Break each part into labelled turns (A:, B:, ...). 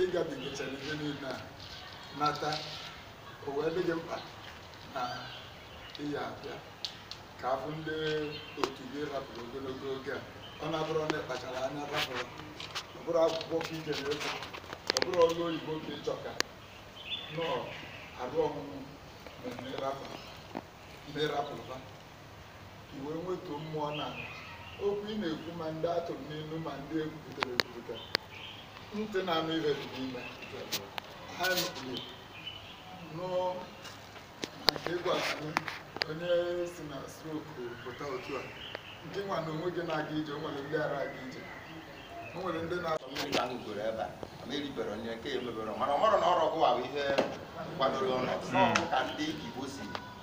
A: ịgabigachara ihe niile a nata o wee dị gị mkpa na ị ya-abịa ka afụ ndị otu gị rapụrụ ogologo oge a ọ na-abụrụ na ị kpachara anya rapụrụ ọ bụrụ akwụkwọ ka ị ga-efu ọ bụrụ ọrụ oyibo ka ị chọka nọọ arụ ọmụmụ na ịrapụ na ịrapụrụba ka i wee nwetuo mmụọ na okwu ị na-ekwu ma ndị atụrụ n'ilu ma ndị ekwupụtara ekwupụta ntị na-anụ ihe dị n'ime ha nụrụ nụ maka ịgwa anyị onye si na stroke pụta otu a nke nwa na onwe gị na-aga ije o nwere ndị ara aga ije o nwere ndị na mmiri ahụ goro ebe
B: a ma eribere onye nke ya emebere mana ọ mara na ọrụ ọgụ ahụ ihe kwadoro ọnụ ka ndị igbo si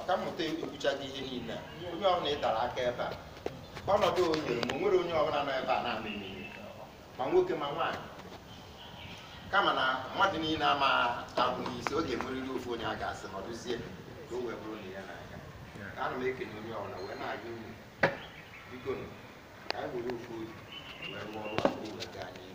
B: ọkammụta ekwuchago ihe niile onye ọbụla ị dara aka ebe a ọnọdụ o nyere m o nwere onye ọbụla nọ ebe a na-ama eme ihe ma nwoke ma nwaanyị kama na mmadụ niile ama abụ isi ọ ga-enwerịrị ofu onye a ga-asị nọdụzie ka o wee bụrụ na ihe na-aga ka ana m ekene onye ọbụla wee na-ayọ unu biko ka anyị were ofu obi wee rụọ ọrụ a ka o wee gaa n'ihu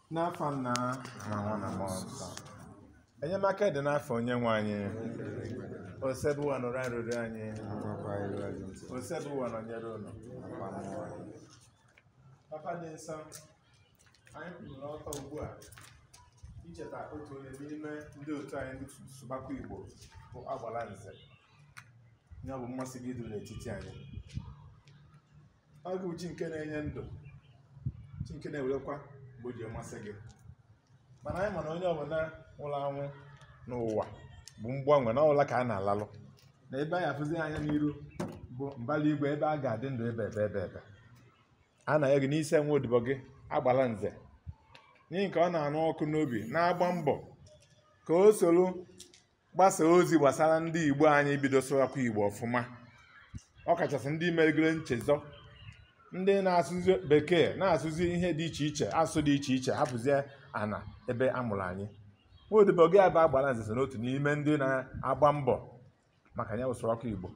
C: n'afa nna na nwa na mmụọ nsọ enyemaka dị n'afa onye nwe anyị osebuwa nụrụ arịrịọ anyị osebuwa nọnyere unu papa dị nsọ anyị kwụrụ n'ọtọ ugbu a icheta otu onye n'ime ndị otu anyị ndị sụbakwa igbo bụ Agbalanze ya bụ mmasị gị iduru n'etiti anyị ọ gị bụ chi nke na-enye ndụ chi nke na-ewerekwa mgbe o ji amasị gị mana anyị ma na onye ọbụla nwụrụ anwụ n'ụwa bụ mgbanwe na ọ bụ ụla ka a na-alalụ na ebe anyị afụzi anya n'iru bụ mbala igwe ebe a ga-adị ndụ ebebe ebebe a na-ayọ gị n'isi nwaodibo gị Agbalanze n'ihi nke ọ na-anụ ọkụ n'obi na-agba mbọ ka o soro gbasaa ozi gbasara ndị igbo anyị bido sụwakwa igbo ọfụma ọ kachasị ndị merigoro nchezọ ndị na-asụzi bekee na-asụzi ihe dị iche iche asụsụ dị iche iche hapụzie ana ebe a mụrụ anyị nwaodibo gị a bụ Agbalanze so n'otu n'ime ndị na-agba mbọ maka ya bụ sụwakwa igbo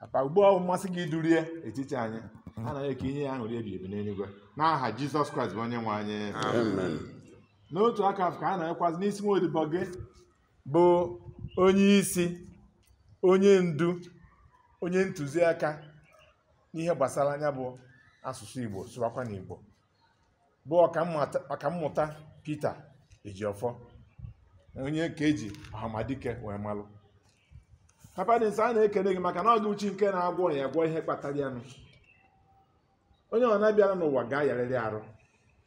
C: papa ugbu ọ bụ mmasị gị iduru ya n'etiti anyị a na-ayọ ka i nye ya aṅụrị ebi ebi n'eluigwe n'aha jizọs kraịst bụ onye nwe anyị Amen. n'otu aka ahụ ka a na-ayọkwazi n'isi nwaodibo gị bụ onye isi onye ndu onye ntụziaka n'ihe gbasara ya bụ asụsụ igbo sụwakwanụ igbo bụ ọkammụta Peter Ejiofor onye ka eji ọhamadike wee malụ papa dị nsọ a na-ekele gị maka na ọ gị bụ chi nke na-agwọ ọrịa agwọ ihe kpatara ya nụ onye ọbụna bịara n'ụwa ga-ayarịrị arụ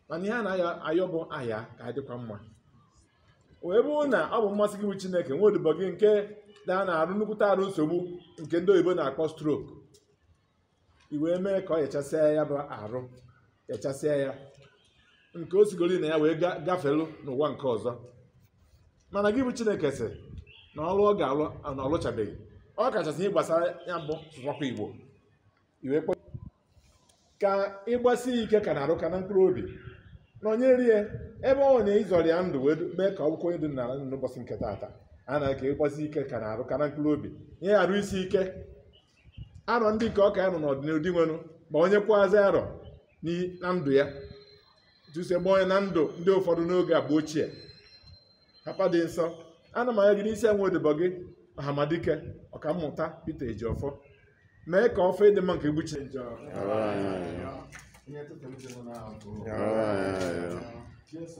C: mana ihe a na-ayọ bụ a yaa ka a dịkwa mma wee bụrụ na ọ bụ mmasị gị bụ chineke nwa odibo gị nke nọ n'arụ nnukwute arụ nsogbu nke ndị oyibo na-akpọ stroke i wee mee ka ọ yachasịa ya bụ arụ yachasịa ya nke o sigoro na ya wee ga- gafelu n'ụwa nke ọzọ mana gị bụ chineke sị na ọrụ ọ ga-alụ na ọ lụchabeghị ọ kachasị ihe gbasara ya bụ sụwakwa igbo i wee kpọ ka ịgbasi ike ka n'arụ ka na mkpụrụ obi nọnyere ya ebe ọ nọ ị zọọrọ ya ndụ wee mee ka ọ bụkwa onye dị n'ala ndụ n'ụbọchị nke taata a na ka ịgbasi ike ka n'arụ ka na mkpụrụ obi ihe arụ isi ike arọ ndị nke ọ ka ya-anọ n'ọdịnihu dinwenụ gbanyekwazi arọ n'i- na ndụ ya etu i si gbanye na ndụ ndị ụfọdụ n'oge agba ochie papa dị nsọ ana m ayọ gị n'isi nwa odibo gị ọhamadike ọkammụta Peter Ejiofor mee ka ọfọ ịdị mma nke egbuchi njọ Amen. Ihe tụtụrụ dị mụ n'ahụ. Amen. Jesu